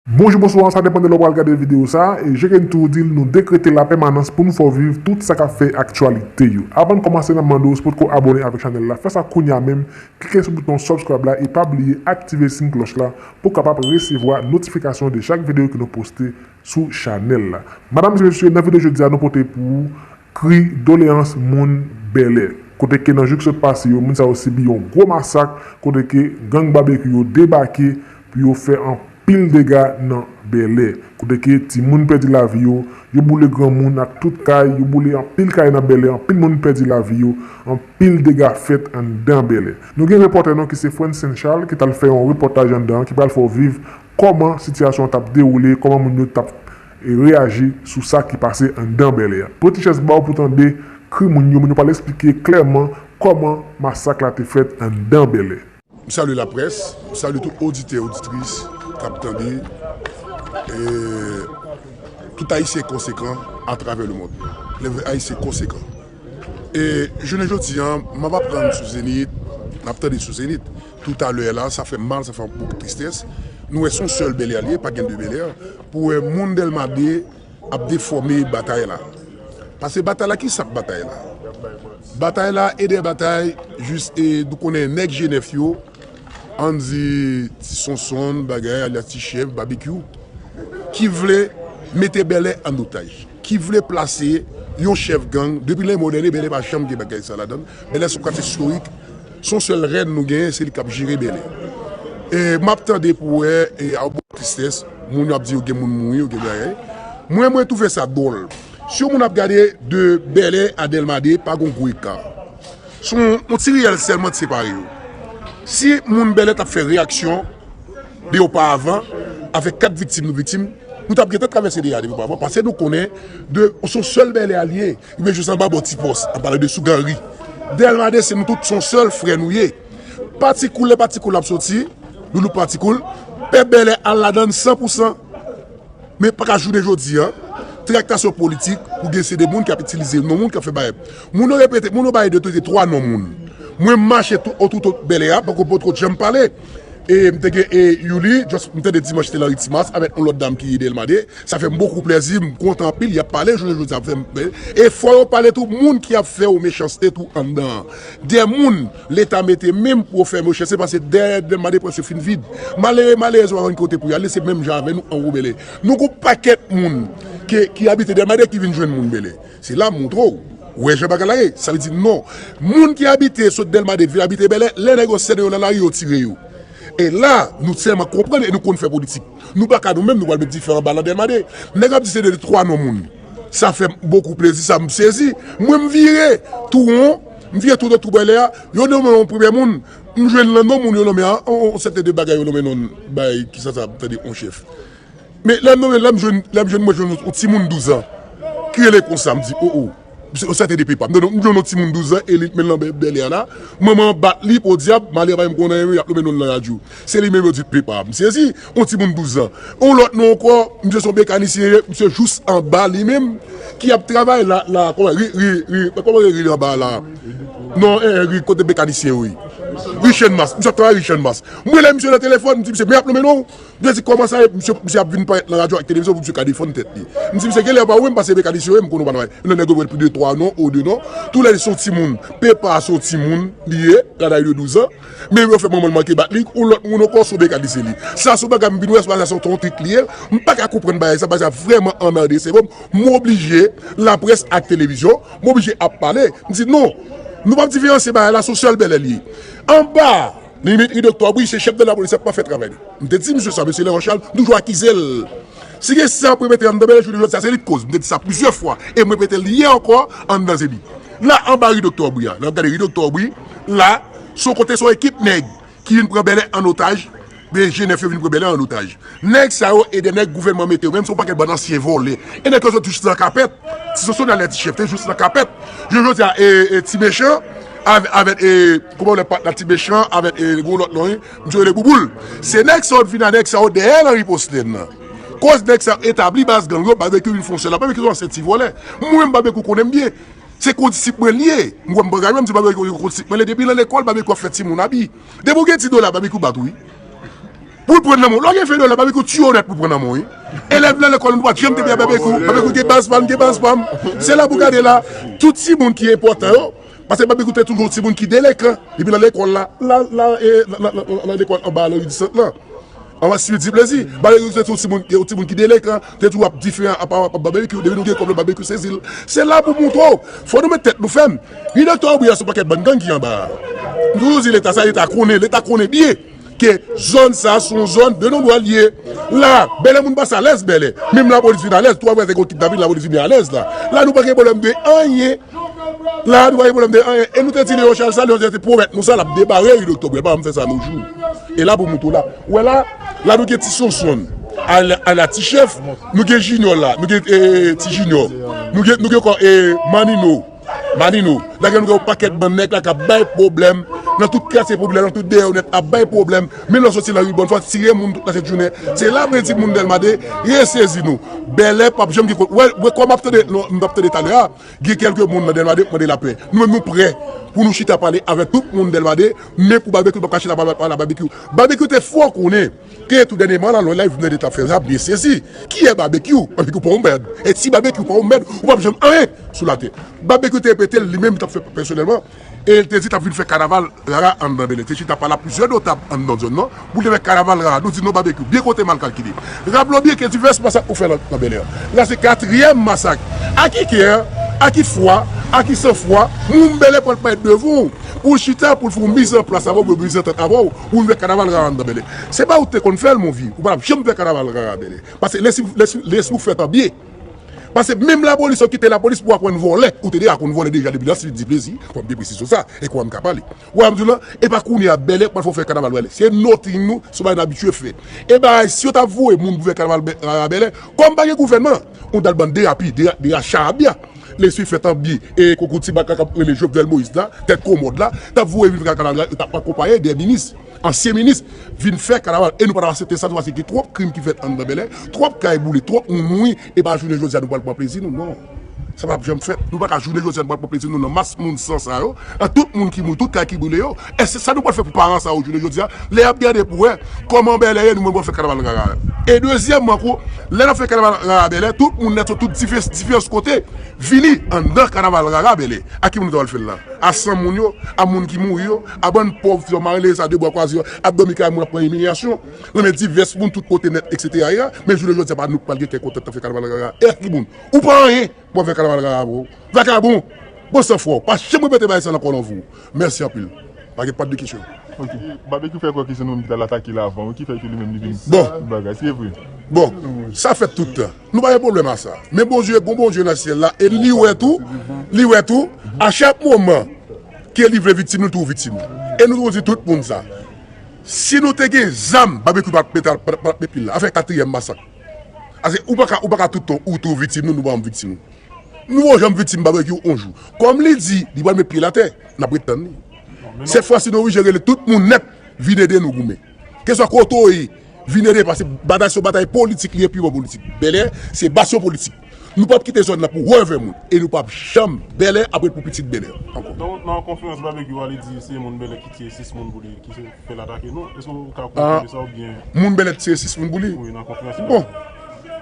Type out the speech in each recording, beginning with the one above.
Bonjou bonswa sa depan de lè ou pral gade video sa e je ken tou dil nou dekrete la pèmanans poun fè w viv tout sa kap fè aktyalite yo avann kòmanse nap mande w si potko abòne avèk chanèl la fè sa kounya menm klike sou bouton subscribe la e pa bliye aktive sin klòch la pou kapap resevwa notifikasyon de chak video ke nou poste sou chanèl la madam e mesye nan video jodia nou pote pou ou kri doleans moun bèlè kote ke nan jou ki sot pase yo moun sa yo sibi yon gwo masak kote ke gang babekyou yo debake pou yo fè anpil dega nan Bèlè, kote ke timoun pèdi lavi yo, yo boule granmoun ak tout kay, yo boule anpil kay nan Bèlè, anpil moun pèdi lavi yo, anpil dega fèt anndan Bèlè. Nou gen repòtè nou ki se Francine Charles ki t al fè yon repòtaj anndan an ki pral fè w viv kòman sitiyasyon an t ap dewoule, kòman moun yo t ap reyaji sou sa ki pase anndan Bèlè. Pran ti chèz ba w pou w tande kri moun yo, moun yo pral esplike klèman kòman masak la te fèt anndan Bèlè. M salye laprès, m salye tout oditè oditris k ap tande e tout ayisyen konsekan atravè lemond. Lè vrè ayisyen konsekan. E jounen jodi a m ap aprann sou Zenith, m ap tande sou Zenith toutalè a la, sa fè m mal, sa fè m bokou tristès. Nou wè s on sèl Bèlè l ye, pa gen 2 Bèlè. Pou wè moun Dèlma 2. ap defòme batay la. Pase batay la ki sak batay la? Batay la e de batay jis e nou konnen nèg jenèf yo ann di ti sonsonn bagay alyas ti chèf babekyou ki vle mete bèlè ann otaj ki vle plase yon chèf gang depi lè modène bèlè pa janm gen bagay sa ladann bèlè son katye storik Son sèl rèn nou genyen se li kap jere bèlè e map tande pou wè e a bon tristès moun yo ap di yo gen moun mouri yo gen bagay mwen mwen touve sa dwòl si yon moun ap gade de bèlè a dèlma 2 pa gon gwo eka son yon ti riyèl sèlman ki separe yo si moun bèlè tap fè reyaksyon de yo pa avan avèk 4 viktim nou viktim nou tap gentan travèse de a de yo pa avan pase nou konnen de son sèl bèlè a liye Ebyen jodi an ba bon ti pòs ap pale de sou ganri dèlma 2 se nou tout son sèl frè nou ye pati koul lè pati koul ap soti doulou pati koul pèp bèlè al ladann san pou san men paka jounen jodi an traktasyon politik pou gen se de moun kap itilize non moun kap fè bagay moun yo repete moun yo bay 2 teke 3 non moun mwen mache tout o touto bèlè a poko potko janm pale e mte gen e youli jòs mtande dimanch te lan ritmas avèk yon lòt dam ki ye dèlma 2. Sa fèm bokou plèzi m kontan anpil yap pale jounen jodi a fèm plè e fò yo pale tou moun ki ap fè yo mechanste tou anndan an dè moun leta mete menm pou yo fè mechanste pase dèyè dèm ba depans yo fin vid malere malerèz yo pa konn ki kote pou yale se menm jan avè nou an woubele nou gon pakèt moun ke ki abite dèm ba dè ki vin jwenn moun bele se la montre w wè jan bagay la ye sa vle di non moun ki abite sot dèlma 2 vin abite bèlè lè nèg yo sène yo nan lari yo tire yo e la nou tèlman konprann e nou konn fè politik. Nou pa ka nou menm nou pral met dife anba lan delma 2. Nèg ap di se 2 3 non moun. Sa fèm bokou plezi sa m sezi. Mwen m vire tou won, m vire tou dwat tou bwè lè a, yo nonmen yon premyè moun, m jwenn lan non moun yo nonmen an, yon sèten de bagay yo nonmen non bagay ki sa sa ap tande yon chèf. Men lè m nonmen lè m jwenn lè m jwenn mwen jwenn yon timoun 12 an ki rele konsa m di o o. Yon sèten depi pam. Donk m yon ti moun 12 zan Elie t menl nan bèlè la manman an bat li podyab Malia pa menm konnen anyen yap nome nonl nan radyo se li menm yo di pepa m sezi yon ti moun 12 zan yon lòt non ankò misye son mekanisyen ye misye jous anba li menm ki ap travay la la kòman ri ri ri kòman yo ri anba la non en en ri kote mekanisyen yo ye ri chènmas misye ap travay ri chènmas m wè misye nan telefòn m di misye men yap nome nonw M te di kòman sa ye misye ap vin parèt nan radyo ak televizyon pou misye ka defann tèt li. M di misye genlè pa wè m pase mekanisyen yo e m konnen w pa nan bagay. Lè nèg yo wè depi de twa non ou de non, tou lè li se yon timoun. Pepa a se yon timoun li ye, kanay de douz an. Men yo fè manman l manke bat li, yon lòt moun ankò se yon mekanisyen li. Sa se yon bagay m vin wè, sa se yon trik li ye. M pa ka konprann bagay sa, bagay sa vrèman anmède sèvo m. M oblije laprès ak televizyon, m oblije ap pale. M di non, nou pa p diferansye bagay la se yon sèl Bèlè li ye. Anba! Dimitri Doctor wi se chèf de lapolis ap mal fè travay li m te di misye sa mesye Leon Charles m toujou akize l si gen sa pou yo mete anndan men l jounen jodya se li k koz m te di sa plizyè fwa e m repete l yè ankò anndan se li la anba ri Doctor Aubry a lè w ap gade ri Doctor Aubry la s on kote s on ekip nèg ki vin pran Bèlè an otaj byen jenèf yo vin pran Bèlè an otaj. Nèg sa yo e de nèg gouvènman mete yo menm se yon pakèt bann ansyen vòlè e nèg yo sot jis nan kapèt ti soso nan lè ti chèf te jis nan kapèt jounen jodi a e ti mechan avèt e kouman rele pat la ti mechan avèt e gwo lòt non misye rele bouboul se nèg sa yo t vin a nèg sa yo dèyè nan riposte nan koz nèg sa yo etabli baz gang yo babekyou vin fon sèl la babekyou se yon ansyen ti vòlè mwen menm babekyou konnen m byen se kondisip mwen liye m wè m bagay mwen m di babekyou kondisip mwen liye depi nan lekòl babekyou ap fè timoun abi depi w gen ti dola babekyou bat ou wi. Poul pran nan menw lò gen 20 dola babekyou tiye w nèt poul pran nan menw wi elèv nan lekòl m pat janm tande babekyou babekyou gen baz pam gen baz pam se la pou gade la tout timoun ki enpòtan yo pase babekyou te toujou timoun ki delekan depi nan lekòl la nan lekòl anba alo idisant lan anba swiwi di plezi babekyou se tou timoun yon timoun ki delekan te toujou ap diferan apa wap babekyou depi nou gen kòb babekyou sezi l se la pou moutre w fò nou met tèt nou fèm ui doktè obriya son pakèt bann gang ki anba a m toujou di leta sa leta konnen leta konnen byen. Ke zòn sa se yon zòn de non dwal li ye. La, Bèlè moun pa sa lèz Bèlè. Menm lapolis vin alèz tou aprè se kon kidnapin lapolis vini alèz la. La nou pa gen pwoblèm de anyen. La nou pa gen pwoblèm de anyen. E nou te di Leon Charles sa, Leon Charles te pwomèt nou sa l ap debare ri Doktò Brel pa janm fè sa nou jou. E la pou moun tou la. Ou wè la, la nou gen ti Sonsonn ala ti chèf, nou gen Jinyò la, nou gen ti Jinyò, nou gen kò e Manino. Manino, lage nou gen yon pakèt bann nèg la k ap bay pwoblèm nan tout katye popilè, nan tout deyò nèt, ap bay pwoblèm, men lè w soti lari bòn fwa, tire moun tout nan jèt jounen, se la prensip moun Dèlma 2 resezi nou. Bèlè p ap janm gen kont, wè kòm m ap tande, non, m t ap tande talè a, gen kèlke moun nan Dèlma 2 k mande lapè. Nou menm nou prè pou nou chita pale avèk tout moun Dèlma 2, men pou Babekyou l p ap ka chita pale avèk Babekyou. Babekyou te fò konnen. Te tou dènyèman la lò live Blende tap fè rap byen sezi kiyè babekyou babekyou paw mèd et si babekyou paw mèd ou pap janm anyen sou latè babekyou te repetel li menm tap fè pèsonèlman el te di tap vin fè kanaval rara anndan bèlè te chita pale a plizyè notab anndan zòn nan poul te fè kanaval rara nou di non babekyou byen konte mal kalkile rap lò byen ke divès masak ou fè nan bèlè la se katriyèm masak a ki kè a ki fwa a ki san fwa moun bèlè pral pale devan w poul chita poul fè w miz an plas avèw byen miz an tèt avèw Ou vin fè kanaval rara andan bèlè se pa ou te konn fèl mon vye ou pap janm fè kanaval rara bèlè pase lè lè si ou fèl pa byen pase menm lapolis yo kite lapolis pou aprann vòlè ou te deja konn vòlè deja depi lans li di plezi fòm gen presizyon sa e kouwam ka pale wè anm diw lan epa kounye a bèlè pral fò fè kanaval bèlè se nothing nou son bagay nou abitye fè e bagay si yo ta voye moun pou fè kanaval rara bèlè kòm pa gen gouvènman ou dal bann derapi dera charabya. Lesy fèt an bgy e konkou ti baka kap rele Jovenel Moïse la, tèt komòd la, tap voye viv kanaval la yo tap akonpaye de minis, ansyen minis vin fè kanaval e nou pa tap asepte sa nou pase gen twòp krim ki fèt anndan Bèlè, twòp kay boule, twòp moun mouri e pa jounen jodi a nou pwal pran plezi nou non sa pap janm fèt nou paka jounen jodi a nou pwal pran plezi nou nan mas moun san sa yo ak tout moun ki mouri tout kay ki boule yo. Eske sa nou pral fè pou paran sa yo jounen jodi a lè yap gade pou wè kòman Bèlè ye nou menm pou nou fè kanaval rara a? E dezyèmman anko, lè nap fè kanaval rara Bèlè tout moun nèt sot tout diferans kote vini anndan kanaval rara Bèlè. A ki moun nou ta pral fè l la? A san moun yo? A moun ki mouri yo? A bann pòv ti zanmari leve sa de bwa kwaze yo ap dòmi kay moun ap pran imilyasyon nan men divès moun tout kote nèt eksetera era men jounen jodi a pa nou k pral gen kè kontan k tap fè kanaval rara e a ki moun? Ou pa anyen! Bon vè kanaval rara bro. Vakabon! Bon san fwa ou pa janm repete bagay sa nan kòlonv ou. Mèsi anpil. Pa gen pat de kesyon. Ok. Babekyou fè kwè ke se nou menm ki t al atake l avan wi ki fè ke li menm li vin Bon. fè bagay. Se vre. Bon. Sa fèt tout tan. Nou pa gen pwoblèm a sa. Men Bondye gen yon Bondye nan syèl la e li wè tou li wè tou a chak moman ke li vle viktim li toujou viktim. E nou toujou di tout moun sa. Si nou te gen zam Babekyou pa t met pil la. Afè katriyèm masak. Paske ou paka ou paka tout tan ou tou viktim nou nou pa janm viktim nou. Nou pa janm viktim babekyou on jou. Kòm li di li pral met pye l atè nap ret tann li. Sèt fwa si nou oblije rele tout moun nèt vin ede nou goumen. Keswa kote w ye vin ede paske batay sa se yon batay politik li ye pi bon politik. Bèlè se basyon politik. Nou pap kite zòn nan pou revè moun e nou pap janm bèlè ap ret pou pitit bèlè ankò. Nan yon konferans Barbecue ale di se moun bèlè ki tiye 6 moun pou li ki fèl atake nou eske ou ka konfime sa oubyen. Moun bèlè t tiye 6 moun pou li? Wi nan konferans li ale.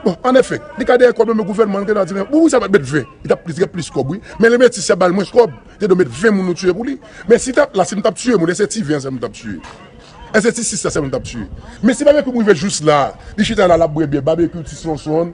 Bon an efè li ka dèyè kòb yo men gouvènman an li te dwa di men bon wi sa pat met 20 li tap gen plis kòb wi men le metis ya bal mwens kòb li te dwe met 20 moun nou tiye pou li men si tap la si nou tap tiye moun eske ti 20 an sèlman nou tap tiye eske ti 6 la sèlman nou tap tiye men si Barbecue rive jous la li chita la lap bwè byè Barbecue ti Sonson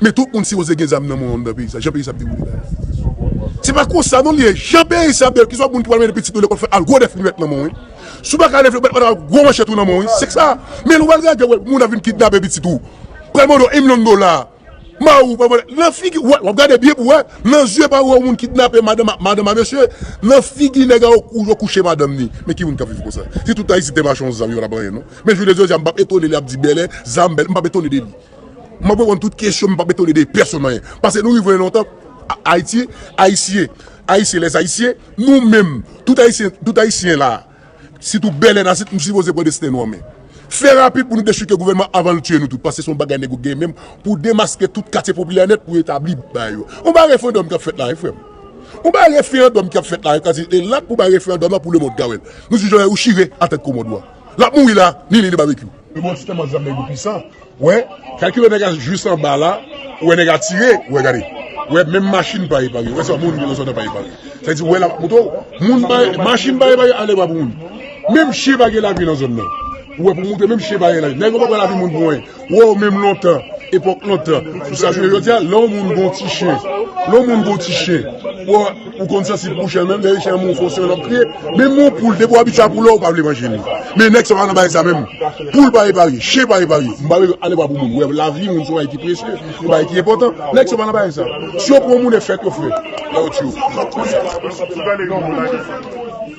Men tout moun sipoze gen zam nan men w anndan peyi sa jan peyi sa ap dewoule la a. Se pa konsa non li ye jan peyi sa ap dewoule keswa moun ki pral mennen pitit nou lekòl fè al gwo dèf limèt nan men w wi. Si w pa ka leve met al gwo manchèt ou nan men w wi se sa. Men lè w al gade yo wè moun ap vin kidnape pitit ou pral mande w 1 milyon dola mari w pral mande l nan figi w ap gade byen pou w wè nan zye pa w wè moun kidnape madanm a mesye nan figi nèg a yo kouche madanm ni men ki moun k ap viv konsa si tout ayisyen te mache yon zam yo pa t ap anyen non men jounen jodi a m p ap etone li ap di bèlè zam bèlè m p ap etone de li. M ap reponn tout kesyon, m pa p etone de pèsonn anyen. Pase nou rive lontan, Ayiti, Ayisyen, Ayisyen, Lèzayisyen, nou menm, tout Ayisyen, tout Ayisyen la a, sitou Bèlè Nasit, nou sipoze pran desten nou an men. Fè rapid pou nou dechouke gouvènman an avan l tiye nou tout, pase se yon bagay nèg yo gen menm pou demaske tout katye popilè nèt pou etabli bagay yo. On bagay referandòm k ap fèt la a, frè m. On bagay referandòm k ap fèt la a, e l ap pou bagay referandòm la pou lemond ka wè l. Nou di Jovenel ou chire atèt kou mond ou a. Lap mouri la ni li ni babekyou. Yo bon ti tèlman zam nèg yo pisan wè kalkilè nèg a jus anba la ou wè nèg a tire ou wè gade ou wè menm machin pa epanye wè sa moun genlè pa epanye sa vle di ou wè lap moto moun pa machin pa epanye ale bwa pou moun menm chyen pa gen lavi nan zòn nan ou wè pou moute menm chyen pa gen lavi nèg yo pa pran lavi moun pou anyen. Woww menm lontan epok lontan sou sa jwe jodi a lè yon moun gon ti chen lè yon moun gon ti chen ou konn sansib pou chen menm dèyè chen an menm ou fè yon siy lap kriye menm yon poul depi w abitye a koulè w pa vle manje li men nèg sa pa nan bagay sa menm poul pa eparye chen pa eparye m pale ale pa pou moun wè lavi moun son bagay ki presye son bagay ki enpotan nèg sa pa nan bagay sa si yo pran moun e fèt yo fè la yo tiye w.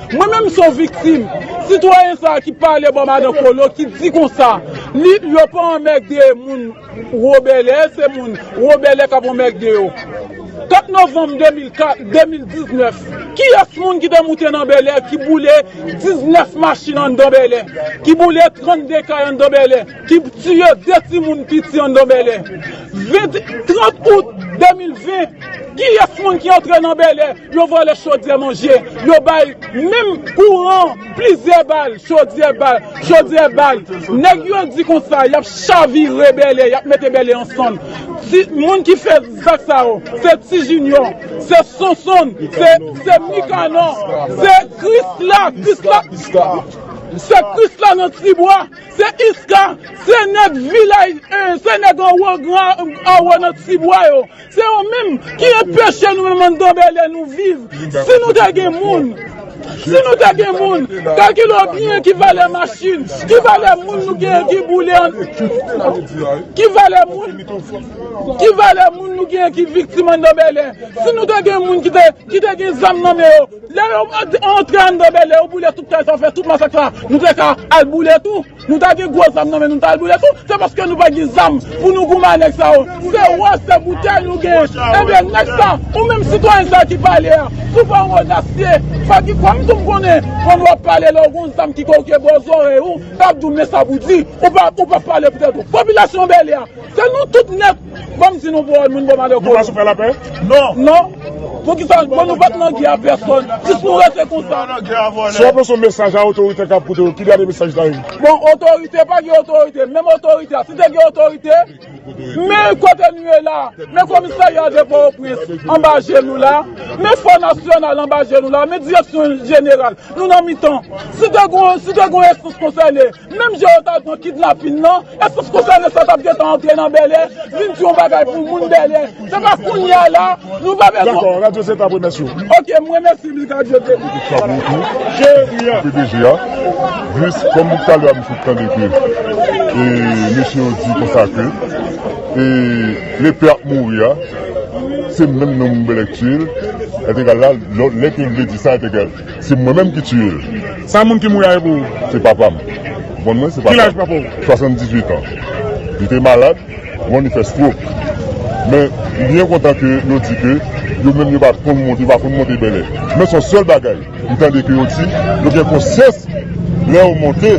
Mwen menm son viktim, sitwayen sa ki pale bò madan kolo ki di konsa li yo pa anmègde moun wobèlè se moun wobèlè kap anmègde yo 4 novanm 2019 kiyès moun ki te moute nan bèlè ki boule 19 machin anndan bèlè ki boule 32 kay anndan bèlè ki tiye 2 timoun piti anndan Bèlè 20 30 out 2020 kiyès moun ki antre nan Bèlè yo vòlè chodyè manje yo bay menm kouran plizyè bal chodyè bal chodyè bal nèg yo di konsa yap chavire Bèlè yap mete Bèlè ansanm ti moun ki fè zak sa yo se ti jinyò se sonsonn se se mikanan se krisla krisla se krisla nan tibwa. Se iska, se nèg vilaj 1, se nèg anwo gran anwo nan ti bwa yo. Se yo menm ki enpeche nou menm anndan Bèlè nou viv. Si nou te gen moun, si nou te gen moun, kalkile w byen ki valè machin, ki valè moun nou genyen ki boule an, ki valè moun, ki valè moun nou genyen ki viktim anndan Bèlè. Si nou te gen moun ki te, ki te gen zam nan men yo. Lè yo antre anndan Bèlè yo boule tout kay sa yo fè tout masak sa nou te ka al boule tou nou ta gen gwo zam nan men nou ta al boule tou se paske nou pa gen zam pou nou goumen a nèg sa yo se wò se boutèy nou gen ebyen nèg sa ou menm sitwayen sa ki pale a si w pa yon odasye fò ki kwè m tou m konnen kòman wap pale lè w gon zam ki kòw ke bò zòrèy ou kap di w men sa pou di ou pa pale poutèt ou popilasyon Bèlè a se nou tout nèt. Banm di nou boo moun boo malè kolo. Nou pa sou fè lapè? Non. Non. Pou kisa nou pa nan gè a pèsòn. Bon nou pat nan gè a pèsòn. Jis nou rete konsa. Si wap lanse yon mesaj a otorite kap koute yo, ki dènye mesaj ou ta di? Bon otorite pa gen otorite. Menm otorite a si te gen otorite. Men kote nou ye la. Men komisarya de potoprens anba je nou la. Men fò nasyonal anba je nou la. Men direksyon jeneral. Nou nan mitan. Si te gon esans konsène. Menm jan yo t al pran kidnapin lan, eske w konsène sa t ap gentan antre nan Bèlè vin di yon bagay pou moun Bèlè? Se pa kounye a la, nou pa bezwen. Dakò, radyo se t ap remèsye w. Ok, m remèsye Big Radyo tou. Mete chabon w tou, pdg a. Jis, kòm depi talè a m sot tande ke mesye yo di konsa ke Lepè ap mouri a, se menm nan moun Bèlè k tiye l, etegal la, lè ke l vle di sa, etegal. Se mwen menm ki tiye l. Sa moun ki mouri a ye pou ou? Se papa m. Bon mwen se papa m. Ki laj papa w? 78 an. Li te malad, bon li fè strok. Men m byen kontan ke yo di ke yo menm yo pa konn monte, yo pa konn monte Bèlè. Men son sèl bagay m tande ke yo di, yo gen konsyans lè yo monte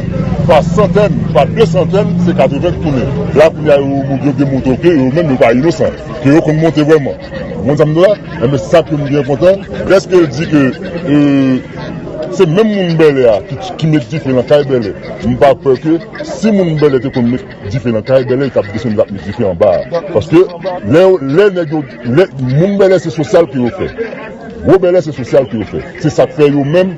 pa santèn, pa de santèn, se 80 k tounen. La kounye a yo gen moto ke yo menm yo pa inosan, ke yo konn monte vrèman. Ou konn sa m di w la? Enben sa k fè m byen kontan, dèske l di ke se menm moun Bèlè a ki met dife nan kay Bèlè. M pa kwè ke si moun Bèlè te konn met dife nan kay Bèlè, yo t ap desann vin ap met dife anba a. Paske, lè yo, lè nèg yo, lè, moun Bèlè se sosyal ke yo fè. Gwo Bèlè se sosyal ke yo fè. Se sa k fè yo menm,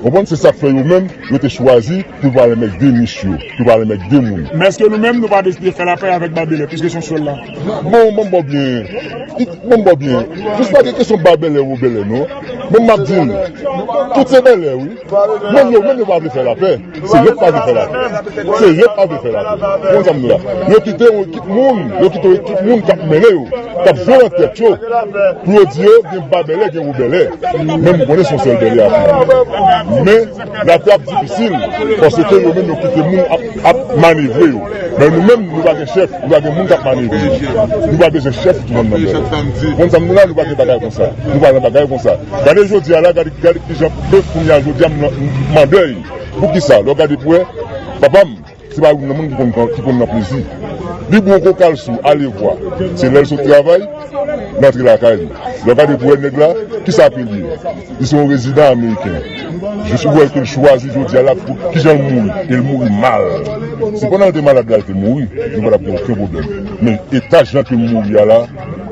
ou konprann, se sa k fè yo menm, yo te chwazi pou yo pa al anmègde miche yo, pou yo pa al anmègde moun. Men èske nou menm nou pa deside fè lapè avèk Babele, piske se yon sèl la? Bon banm baw byen it banm baw byen jis pa gen kesyon ba bèlè ou bèlè non menm map dil tout se bèlè wi menm yo menm yo pa vle fè lapè se yo k pa vle fè lapè se yo k pa vle fè lapè ou konn sam di la yo kite yon ekip moun yo kite yon ekip moun kap mennen yo kap jwe nan tèt yo pou yo di yo gen ba bèlè gen ou bèlè menm m konnen son sèl bèlè ap viv men. Latè ap difisil paske yo menm yo kite moun ap manevre yo men nou menm nou pa gen chèf nou pa gen moun kap manevre nou nou pa bezwen chèf tout moun nan menm nou konn sa nou la nou pa gen bagay konsa nou pa nan bagay konsa gade jodia la gade kijan pèp kounya jodia m mandèy poukisa lè w gade pou wè papam Se pa youn nan moun ki konn nan plezi. Li bon kou kal sou alevwa. Se lè l sot travay, li antre lakay li. Lè w gade pou wè nèg la, ki sa ke l ye? Li se yon rezidan ameriken. Jis pou wè ke l chwazi jodi a l ap ki jan l mouri. E l mouri mal. Si pandan l te malad la l te mouri, nou pa t ap gen oken pwoblèm. Men eta jan ke l mouri a la.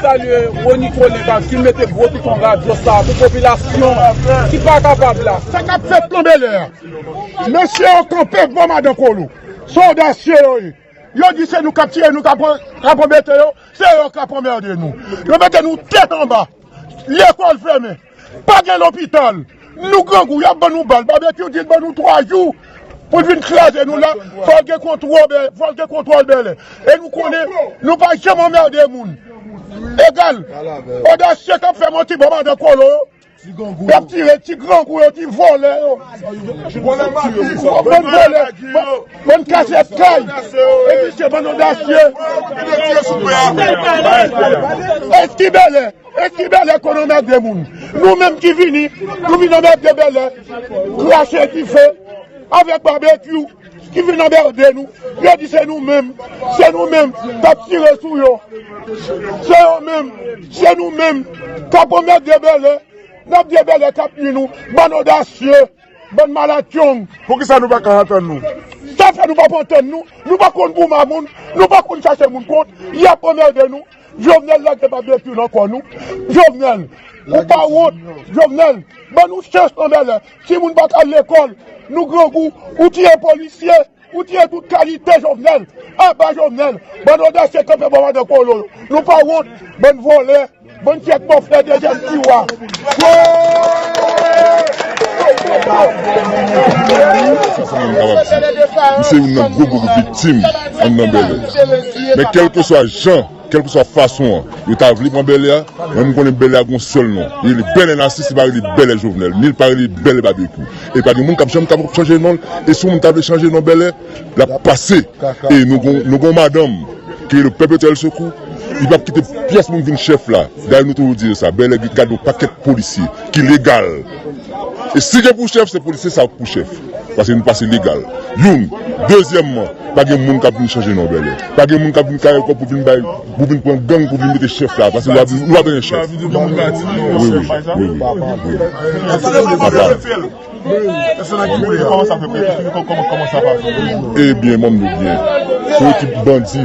Salye Rony Coleman ki mete gwo piton radyo sa a pou popilasyon ki pa kapab la. Sa kap fèt nan belè a? Mesye yo kanpe bò madan kolo. Se odasye yo ye. Yo di se nou kap tire, nou kap anbete yo, se yo kap anmerde nou. Yo mete nou tèt anba. Lekòl fèmen. Pa gen lopital. Nou grangou yap ban nou bal. Babekyou di l ban nou 3 jou pou l vin kraze nou la fòl gen kontwòl bèlè. E nou konnen nou pa janm anmède moun. Egal odasye kap fè manti ba madan kolo yo. Yap tire ti grangou yo ti vòlè yo. Bann vòlè bann kase kay. Epi se bann odasye. Eski bèlè. E ki bèlè konn anmède moun. Nou menm ki vini, nou vin anmède bèlè, krache dife avèk babekyou ki vin anmède nou, yo di se nou menm, se nou menm kap tire sou yo, se yo menm, se nou menm kap anmède bèlè, nap di e bèlè kap nwi nou, bann odasye. Bann malatyong poukisa nou paka antann nou. Sa fè nou pap antann nou, nou pa konn gouman moun, nou pa konn chache moun kont, yap anmède nou, Jovenel lage babetue nan kò nou, Jovenel ou pa wont, Jovenel ban nou chans anmèlè, timoun paka al lekòl, nou grangou, ou tiye polisye. Ou tiye tout kalite jovenel. Aba jovenel. Bann odasye kanpe bò madan kolo yo. Nou pa wont. Bann vòlè. Bann fyèk bòflè dezyèm tiwa. Wooyy. Kèlkeswa fason an yo ta vle pran Bèlè a, men m konnen Bèlè a gen yon sèl non, li rele Bèlè Nasis, li pa rele Bèlè Jovenel, ni li pa rele Bèlè Babekyou. E pa gen moun k ap janm kapab chanje non l. E si yon moun ta vle chanje non Bèlè, l ap pase. E nou gen yon madanm ki rele Pèpetyèl Sekou, li p ap kite pyès moun vin chèf la. Dayè nou toujou di yo sa, Bèlè gen gade yon pakèt polisye ki legal. E si gen pou chèf se polisye sa pou chèf. Pase nou pase legal. Youn. Dezyèmman, pa gen moun k ap vin chanje non Bèlè. Pa gen moun k ap vin kare kò pou vin bay, pou vin pran gang pou vin mete chèf la. Pase nou pa bezwen chèf. Wi, wi, wi, wi. Apa. E byen, mande byen. Pou ekip bandi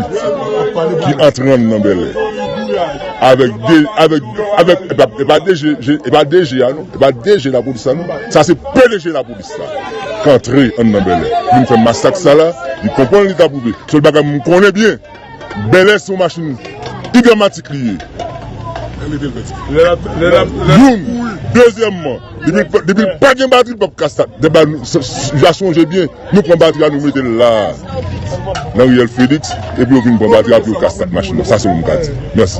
ki antre nan Bèlè. Avèk de avèk avèk epa epa DG epa DG a non epa DG lapolis la non sa se pdg lapolis la k antre anndan Bèlè pou vin fè masak sa la li konprann li ka pwouve sèl bagay m konnen byen Bèlè se yon machin igramatik li ye youn dezyèmman depi l pa depi l pa gen batri l pap ka stat deba nou j a sonje byen. Yo pran batri a nou mete l la nan riyèl Felix epi yo vin pran batri a epi yo ka start machin nan sa selman m ka di mèsi.